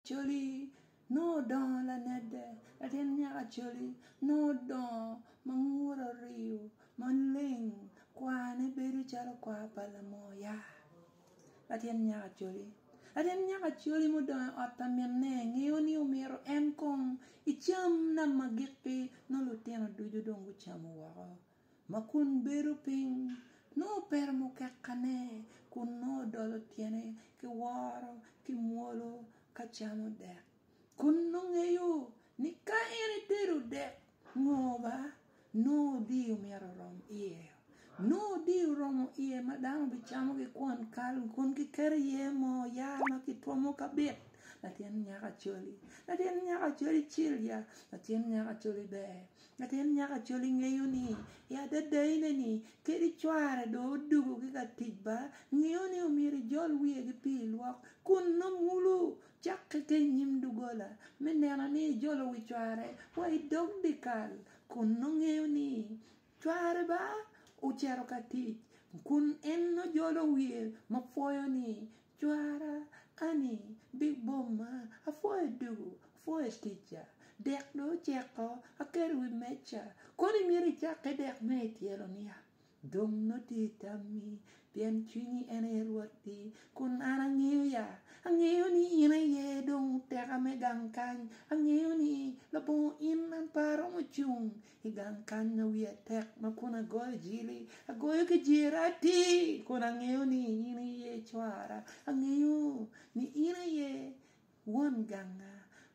Coli nongo odongo lanedde, latin nyaka coli nongo odongo ma ngute oriyo maleng, kwane bedo calo kwar pa lamoya. Latin nyaka coli, latin nyaka coli mudongo i ot pa minne ngeyo ni omyero en kong ecam nam ma gikki nongo lutino ducu dong gucamo woko. ma kun bedo piny, nongo pe romo kekane kun nongo dolo tyene ki woro ki mwolo ka camo dek. Kun nongo ngeyo ni ka en etedo dek ngo ba, nongo odiyo myero orom iye. Nongo odiyo oromo iye ma dano bicamo gikwon kal kun giketo iye moo ya ma kitwomo kabit latin nyako acoli. Latin nyako acoli cil ya, latin nyako acoli ber. Latin nyaka col ingeyo ni i adada ine ni kadi cware dong odugo ki ka tic ba ngeyo ni omyero ijol wiye ki pi ilwok kun num wulu cok ki ka inyim dugola me neno ni ijolo wi cware wa idog dikal kun nongo ngeyo ni cware ba ocito ka tic kun en nongo jolo wiye ma pwoyo ni Cwara ani bibomma, apwoyo ducu, apwoyo ticca, dek dong oceko, aketo i wi mecca, kono imito icakke dek me i tyelo niya? Dong nongo tye i tammi, pien cwinyi en aye rwatti, kun an angeyo ya, angeyo ni in aye dong teka me gang kany, angeyo ni labongo in an pe aromo cung I gang kany ma wiya tek ma kun agoyo jili, agoyo ki jira atir kun angeyo ni in iye cwara. Angeyo ni in aye won ganga,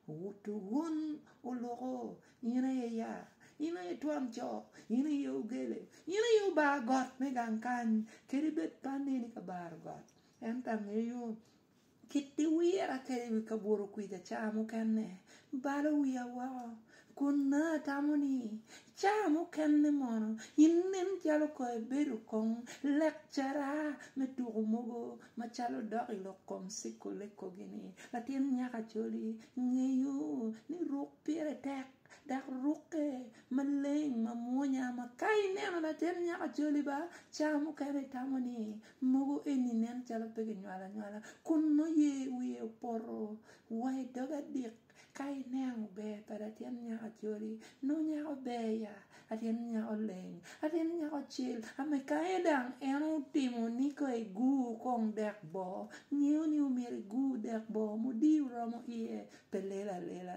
owuto wun oluko, in aye yar, in aye twon co, in aye ogele, in aye obar got me gang kany kadi bed pe aneni ka baro got ento angeyo. Kit iwira kwede i wi kabuto kwic aca mukene, balo wiya woko, kun nongo atamo ni, 'Ca mukene mono inen calo kong ebedo kong lekcara me tuko mogo macalo dok i lok kong Sikko Lekkogi ni, Latin Nyakacoli, ngeyo ni ruk pire tek. Dok rukke maleng mamwonya ma ka ineno latin nyaka joli ba ca mukene itamo ni mogo eni nen calo pe kinywalo anywala kun nongo ye wiye opoto wa i doge adik ka ineno ber pa latin nyaka joli nongo nyako ber ya latin nyako leng latin nyako cel ame ka en dang en otimo ni ka i gur kong dek boo ngeyo ni omyero igur dek boo mudiyo romo iye pe lelo alela